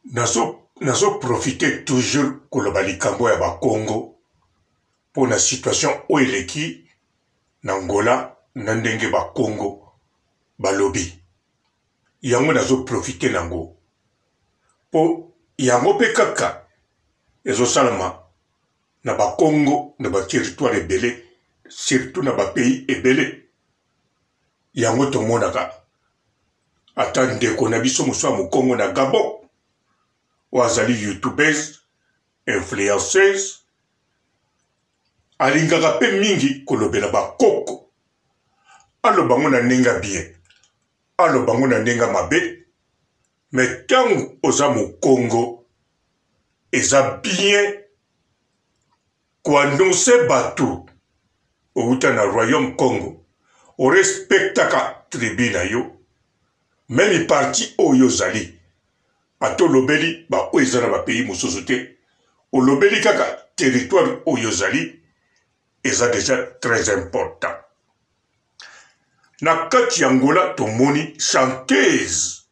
nazo nazo profite toujours koloba likambo ya bakongo mpo na situation oyo eleki na ngola na ndenge bakongo balobi yango nazo profite nango mpo yango mpe kaka ezosalama na bakongo na bateritware ebele surtout na bapays ebele yango tomonaka ata ndeko na biso mosusu ya mokongo na gabon oyo azali youtubeuse influenceuse alingaka mpe mingi kolobela bakoko aloba yango na ndenge ya bien aloba yango na ndenge ya mabe me ntango oza mokongo eza bien ko annoncer batu owuta na royaume kongo o respectaka tribu na yo meme parti oyo ozali ata olobeli ba oyo eza na ba pays mususu te olobeli kaka territoire oyo ozali eza deja très important na kati ya angola tomoni chanteuse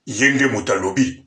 ye nde mutu alobi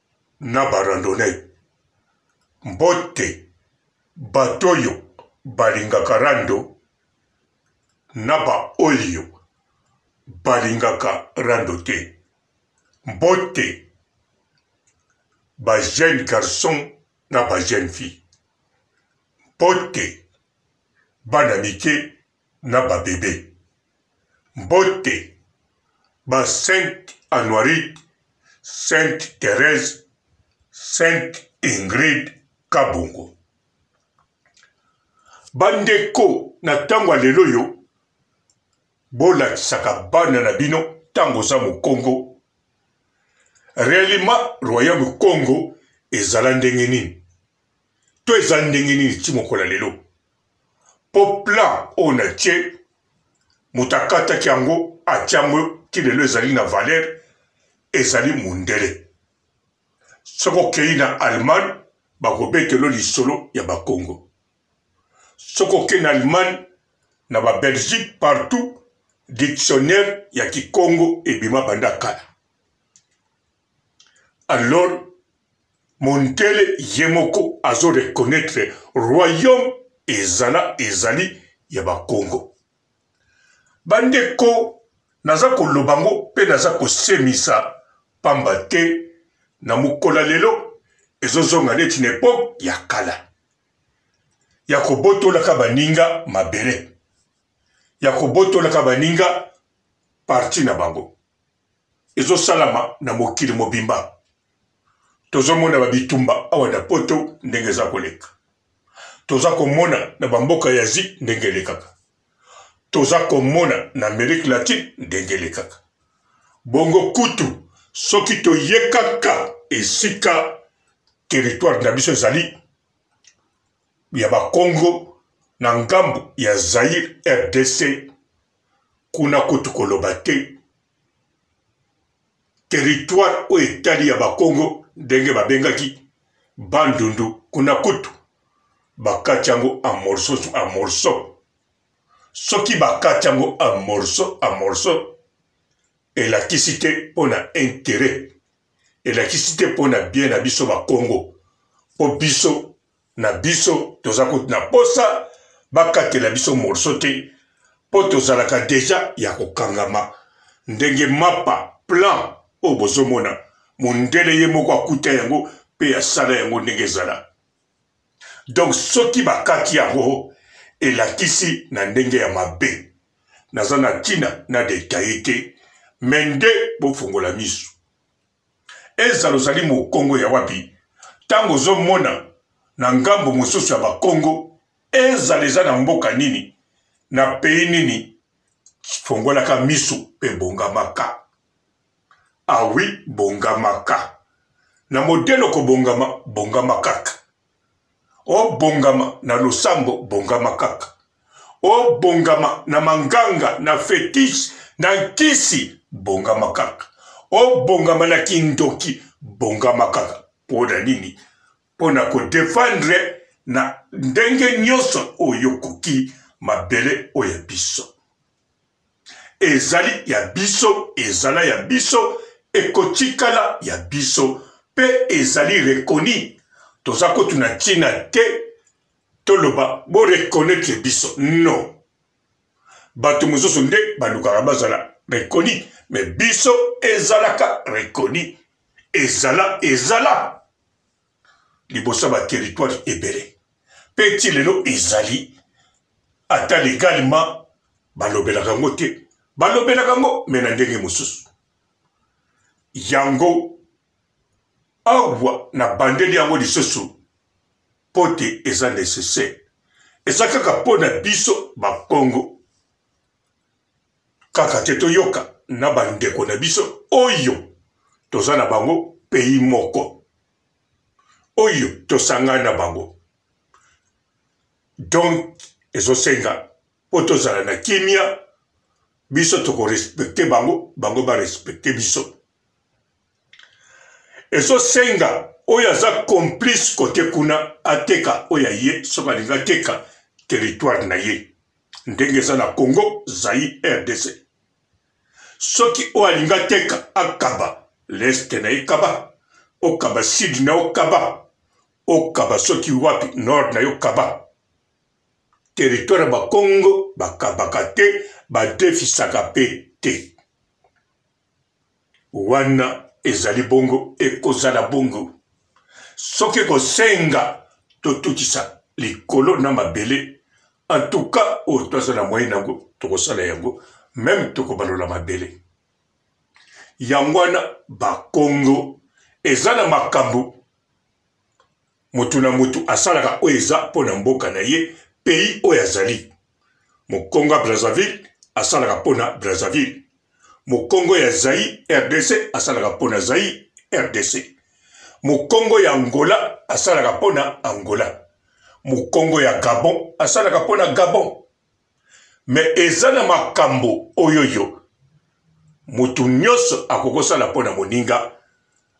na ba randonnee mbote bato oyo balingaka rando na ba oyo balingaka rando te mbote ba jeune garçon na ba jeune fille mbote bana mike na ba bebe. Mbote ba sainte Anuarite, sainte Therèse, sainte Ingrid Kabongo. Ba ndeko na tango ya lelo oyo bolakisaka bana na bino tango oza mokongo realima royaume Kongo ezala ndenge nini? To eza ndenge nini ti mokolo ya lelo? Po plan oyo natie moto akataki yango atie yango ti lelo ezali na valeur ezali mundele. Soki okeyi na Allemagne bakobetela yo lisolo ya ba Kongo. Soki okeyi na Allemagne na ba Belgique partout dictionnaire ya kikongo ebima banda kala. alors Montele ye moko azo reconnaitre royaume ezala ezali ya ba Kongo. Ba ndeko naza koloba ngo pe naza kosemisa pamba te na mokola lelo ezo zonga neti na epoque ya kala ya kobotolaka baninga mabele, ya kobotolaka baninga parti na bango. ezosalama na mokili mobimba tozomona ba bitumba awa na poto ndenge eza koleka toza komona na bamboka ya asie ndenge elekaka toza komona na amerique latine ndenge elekaka bongo kutu soki toye kaka esika territoire na biso ezali ya bakongo na ngambo ya zaire rdc Kuna kutu koloba te. Territoire oyo etali ya Bakongo ndenge babengaki Bandundu kuna kutu bakati yango en morceaux en morceaux. Soki bakati yango en morceaux en morceaux elakisi te mpo na interet elakisi te mpo na bien na biso Bakongo mpo biso na biso toza kutu na posa bakatela biso morceau te po tozalaka deja ya kokangama ndenge mapa plan oyo bozomona mundele ye moko akuta yango pe asala yango ndenge ezala donc soki bakati yango elakisi na ndenge ya mabe naza na tina na detaille te mais nde bofungola misu Ezala ozali mokongo ya wapi, ntango ozomona na ngambo mosusu ya bakongo, ezala eza na mboka nini, na pays nini, fongolaka miso pe bongamaka. Ah oui, bongamaka. Na modèle okobongama, bongama kaka. obongama na losambo bongama kaka obongama na manganga na fetiche na nkisi bongama kaka obongama na kindoki bongama kaka mpo na nini mpo na kodefendre na ndenge nyonso oyo okoki mabele oyo ya biso ezali ya biso, ezala ya biso, ekotikala ya biso pe ezali reconi. Toza kutu na tina te toloba bo reconaitre biso no bato mosusu nde balukaka bazala reconi me biso ezalaka reconi ezala ezala liboso ya ba territoires ebele mpe ti lelo ezali ata legalement balobelaka yango te balobelaka yango mais na ndenge mosusu yango awa na bandeli yango lisusu mpo te eza necessaire eza kaka mpo na biso bakongo Kaka te toyoka na ba ndeko na biso oyo toza na bango pays moko oyo tosangani na bango donc ezo senga po tozala na kimia biso toko respecter bango bango ba respecter biso ezosenga oyo aza complice kote kuna ateka oyo ya ye soki alingi ateka territoire na ye ndenge eza na congo zai rdc soki oyo alingi ateka akaba leste na ye kaba okaba sud na yo kaba okaba soki wapi nord na yo kaba territoire ya bakongo bakabaka te badefisaka mpe te Wana ezali bongo, ekozala bongo soki ekosenga totutisa likolo na mabele. En tout cas, oyo toza na moyen nango, tokosala yango, meme tokobalola mabele. Yango wana, Bas-Congo eza na makambo. Motu na motu asalaka oyo eza mpo na mboka na ye, pays oyo azali. Mokongo ya Brazzaville asalaka mpo na Brazzaville. Mokongo ya Zaïre, rdc, asalaka mpo na Zaïre, rdc. Mokongo ya Angola asalaka mpo na Angola. Mokongo ya Gabon asalaka mpo na Gabon. Mais eza na makambo oyoyo mutu nionso akoki kosala mpo na moninga,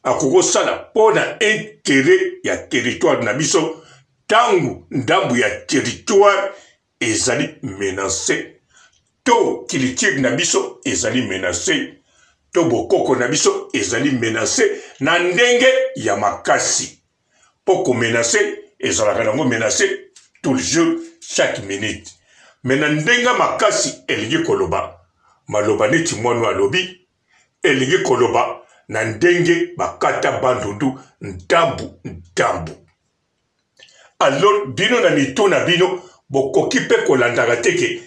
akoki kosala mpo na interet ya territoire na biso ntango ndambu ya territoire ezali menance to culture na biso ezali menance to bokoko na biso ezali menance na ndenge ya makasi. mpo komenase ezalaka nango menase tout le jour chaque minute me na ndenge makasi elingi koloba maloba neti mwanu alobi elingi koloba na ndenge bakata bandundu ntambu ntambu alors bino na mitu na bino bokoki mpe kolandaka te ke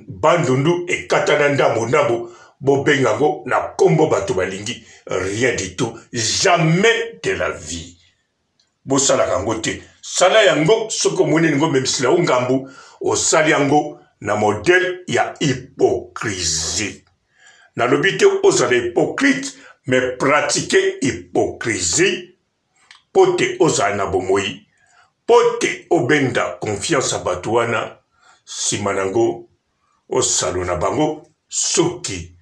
Bandundu ekatana ndambu ndambu bo benga ngo na kombo batu balingi rien du tout jamais de la vie bosalaka ngo te sala ya ngo soki omoni elingo memisila yo ngambu osali ya ngo na modèle ya hypocrisie nalobi te ozala hypocrite mais pratique hypocrisie mpo te ozala na bomoyi, mpo te obenda confiance ya bato wana, sima nango osano na bango suki,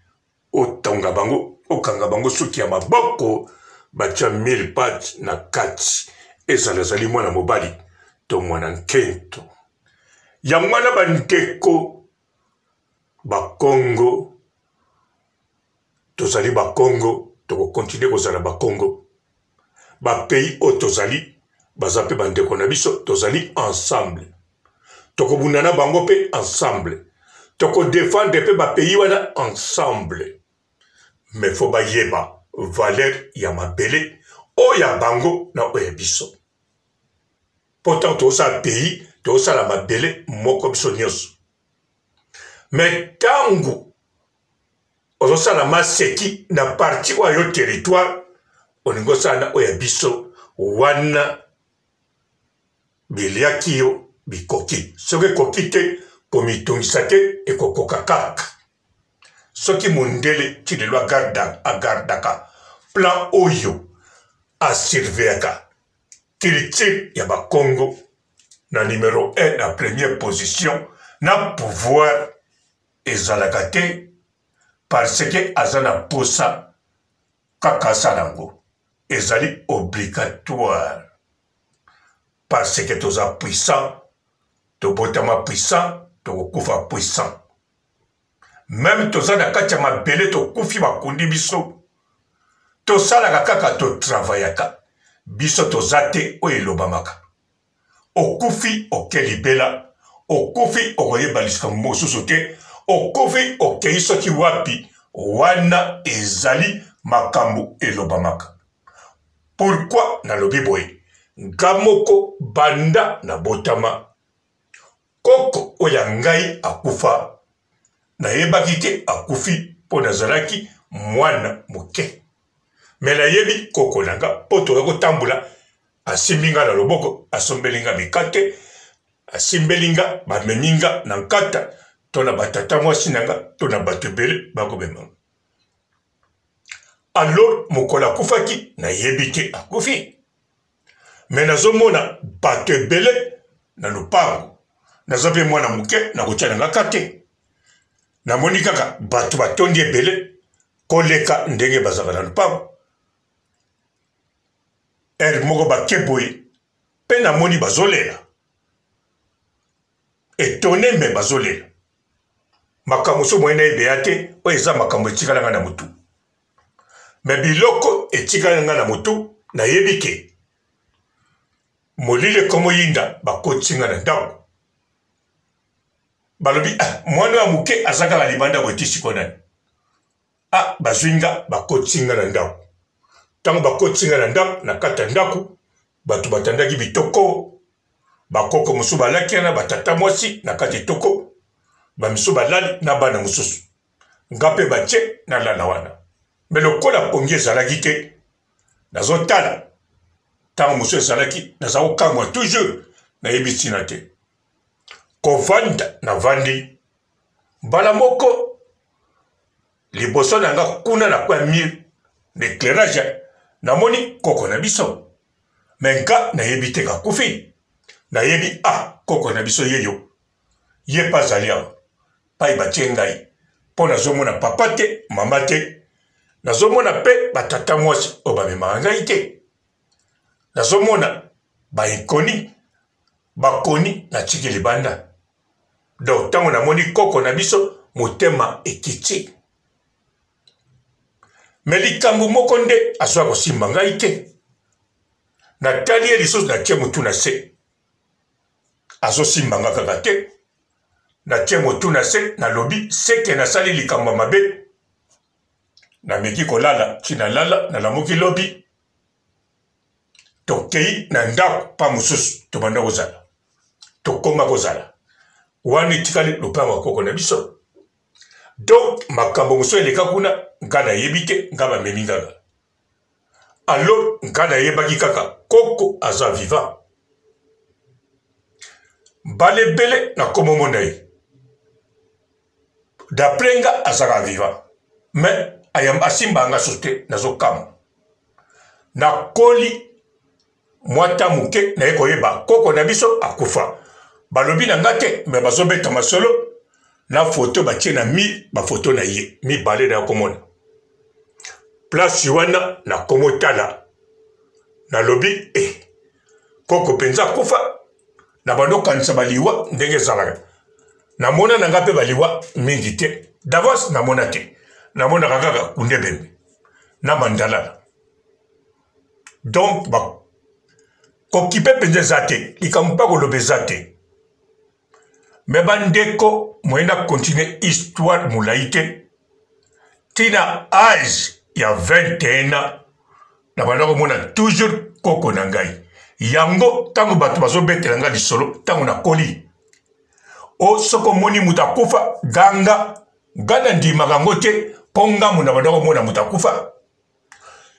otonga bango, okanga bango suki ya maboko, batia mille pattes na kati, ezala azali mwana mobali to mwana nketo. Yango wana ba ndeko ba kongo, tozali ba kongo toko continue kozala ba kongo ba pays oyo tozali baza pe ba ndeko na biso tozali ensemble toko bunda na bango pe ensemble toko defendre pe ba pays wana ensemble mais faut bayeba valeur ya mabele oyo ya bango na oyo ya biso po ntango tozosala pays tozosala mabele moko biso nyonso me ntango ozosala maseki na parti oyo yo territoire olingi osala na oyo ya biso wana biliaki yo bikoki soki ekoki te komitungisa te ekokoka kaka soki mondele ti lelo agarda agardaka plan oyo asurveyaka culture ya bakongo na numero 1 na première position na pouvoir ezalaka te parce que aza na posa kaka asala yango ezali obligatoire parce que toza puissant tobotama puissant tokokufa puissant meme toza na kati ya mabele tokufi bakundi biso tosalaka kaka totravayaka biso toza te oyo elobamaka Okufi oke libela, okufi okoyeba liskambo mosusu te, okufi okei soki wapi, wana ezali makambo elobamaka. Pourquoi nalobi boye? Nga moko banda nabotama, Koko oyo ya ngai akufa, nayebaki te akufi po nazalaki mwana moke. Mais nayebi koko na nga po tokoki kotambola, asimbi nga na loboko, asombeli nga mikate, asimbeli nga, bamemi nga na nkata to na ba tata mwasi na nga to na bato ebele bakomema nga. Alors mokolo akufaki, nayebi te akufi. me nazomona bato ebele na lopango naza mpe mwana moke nakotya na ngaka te namoni kaka bato batondi ebele koleka ndenge bazalaka na lopango ere moko bake boye mpe namoni bazolela etone me bazolela makambo so moyena ebeya te oyo eza makambo etikalanga na motu Mais biloko etikali nga na mutu na yebi ke molili ekomo yinda ba kotisi nga na ndaku balobi ah mwana oyo ya muke aza kaka libanda boye ti siko nani ah bazwi nga ba kotisi nga na ndaku tango ba kotisi nga na ndaku na kati ya ndaku bato batandaki bitoko bakoko mosusu balaki wana batata mwasi na kati etoko bamisu balali na bana mosusu nga mpe batye nalala wana me lokola pongi ezalaki te nazotala ntango mosusu ezalaki naza kokamwa toujours nayebi ntina te kovanda navandi mbala moko liboso na nga kuna na kwa mur na éclairage namoni koko na biso me nga nayebi te kakufi nayebi a ah, koko na biso yeyo ye pe azali awa epayi batie ngai po nazomona papa te mama te nazomona pe ba tata muasi oyo bamemaka ngai te nazomona ba inconi bakoni natiki libanda donc tango namoni koko na biso motema ekiti me likambo moko nde azwa kosimba ngai te natali ye lisusu natie motu na se azosimba nga kaka te natie motu na se nalobi seke nasali likambo ya mabe nameki kolala ti nalala nalamuki lobi tokei na ndako mpa mosusu tobanda kozala tokoma kozala wana etikali lopango ya koko na biso donk makambo mosusu eleka kuna nga nayebi te nga bamemi ngaka Allo nkada ayebaki kaka koko aza vivant bala ebele na komo mona ye d'après nga azaka vivant mais ayamba asimba nga sote nazo kama nakoli mwa ta moke naye koyeba koko na biso akufa balobi na nga te me bazobeta masolo na foto batie na mi bafoto na ye mibale na ya komona plasi wana nakomotala nalobi e eh, koko mpenza akufa na bando okanisa baliwa ndenge ezalaka namona na nga mpe baliwa mingi te davance namona te namonaka kaka kundebembe na mandalala donc ba kokipe mpenza eza te likambo mpe akoloba eza te me bandeko moye na continue histoire molai te ntina age ya 21 ans na banda komona toujours koko na ngai yango ntango bato bazobetela ngai lisolo ntango nakoli o oh, soki omoni moto akufa ganga ngai nandimaka yango te mpo ngambo na banda komona moto akufa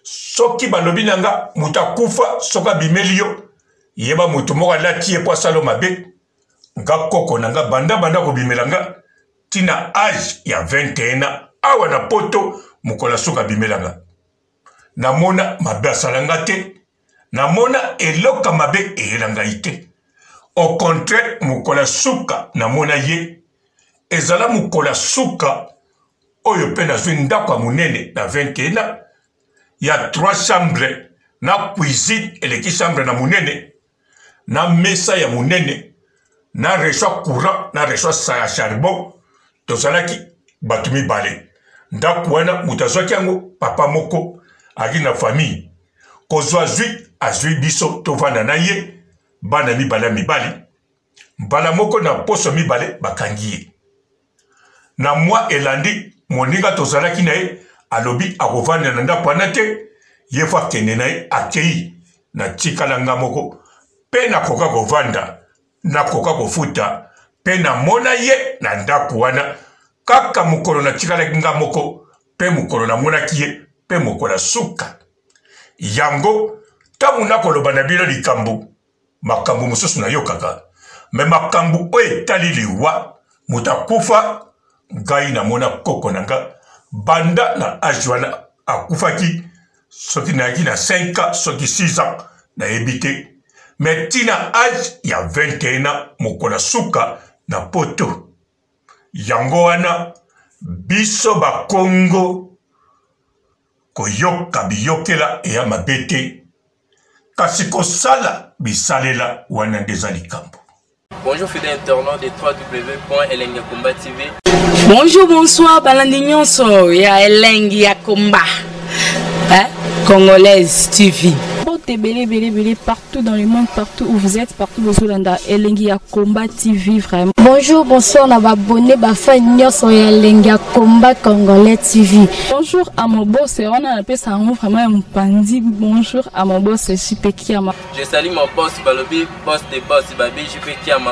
soki balobi na nga moto akufa soki abimeli yo yeba moto moko alati ye mpo asalo mabe nga koko na nga banda banda kobimela nga ntina age ya 21 ans awa na poto mokolo asuka abimela nga namona mabe asala nga te Namona eloko ya mabe eyela ngai te. Au contraire, mokolo ya suka namona ye, ezala mokolo ya suka oyo mpe nazwi ndako ya monene na 21 ans ya 3 chambre na cuisine eleki chambre na monene na mesa ya monene na reçoit courant na reçoit sa ya charbon tozalaki bato mibale ndako wana moto azwaki yango papa moko aki na famille kozwa zwi azwi biso tovanda na ye bana mibale ya mibali mbala moko na poso mibale bakangi ye Na mwa elandi, moninga tozalaki na ye alobi akovanda na ndako wana te, ye faut akende na ye. Akeyi, natikala nga moko pe nakoka kovanda, nakoka kofuta pe namona ye na ndako wana. Kaka mokolo natikalaki nga moko pe mokolo namonaki ye pe mokolo ya suka. Yango tango nakoloba na bino likambo. makambu mususu na yokaka mais makambu oyo etali liwa moto akufa ngai na mona koko na nga banda na age wana akufaki soki nayaki na 5 ans soki 6 ans nayebi te mais tina age ya 21 ans mokolo ya suka na poto yango wana biso bakongo Koyoka biyokela eya mabe te, kasi kosala bisalela wana nde eza likambo. Bonjour fidèle internaute de www.elengiakombatv. Bonjour, bonsoir, balandi nyonso ya elengi ya combat. Hein? Congolaise TV. Bote bele bele bele partout. tout dans le monde partout où vous êtes partout bozolanda elengi ya combat tv vraiment bonjour bonsoir na babone bafan nyonso ya elengi ya combat congolais tv bonjour à mobose wana napesa yango vraiment ya mopanzi bonjour à mobose jp kiama je sali mon boss balobi boss de boss babi jp kiama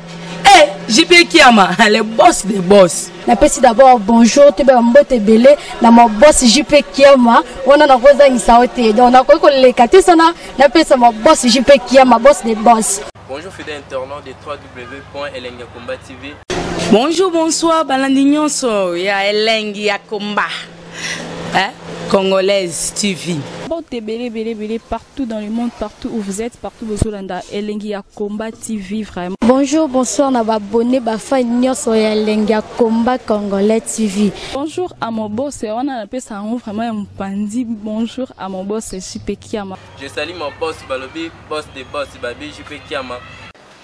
Hey, eh, JP Kiama, le boss des boss. napesi d'abord bonjour toyeba ya mbote ebele na mabosi jp kiama wana nakozangisa yo te donc nakoki koleka te sana napesa mabosi jp kiama boss de boss bonjour fidèle internaute de www.elengiakomba tv bonjour bonsoir balandi nyonso ya elengi ya komba hein? Congolaise TV. Bote belé belé belé partout dans le monde, partout où vous êtes, partout bozolanda Elengi ya Combat TV vraiment. Bonjour, bonsoir na abonné ba fan nyonso ya Elengi ya Combat Congolais TV. Bonjour à mon boss, on a appelé ça en vraiment un pandi. Bonjour à mon boss JP Kiama. Je salue mon boss Balobi, boss des boss Babi JP Kiama.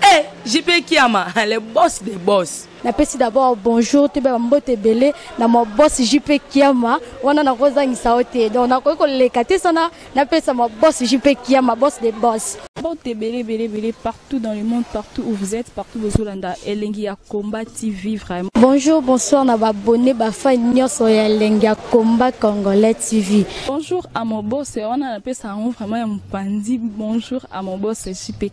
Eh, JP Kiama, le boss des boss. napesi d'abord bonjour toyeba bambote ebele na mabosi jp kiama wana nakozangisa yo te donc nakoki koleka te sana napesa mabosi jp kiama boss de boss mbote ebele ebele ebele partout dans le monde partout où vous êtes partout bozolanda elengi ya combat tv vraiment bonjour bonsoir na babone bafai nyonso ya elengi ya combat congolais tv bonjour à mon boss wana napesa yango vraiment ya mopanzi bonjour à mon boss jp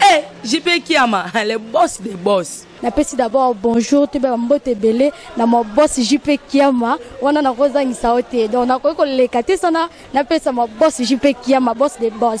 Eh, JP Kiama, le boss des boss. napesi d'abord bonjour toyeba bambote ebele na mabosi jp kiama wana nakozangisa yo te donc nakoki koleka te sana napesa mabosi jp kiama boss de boss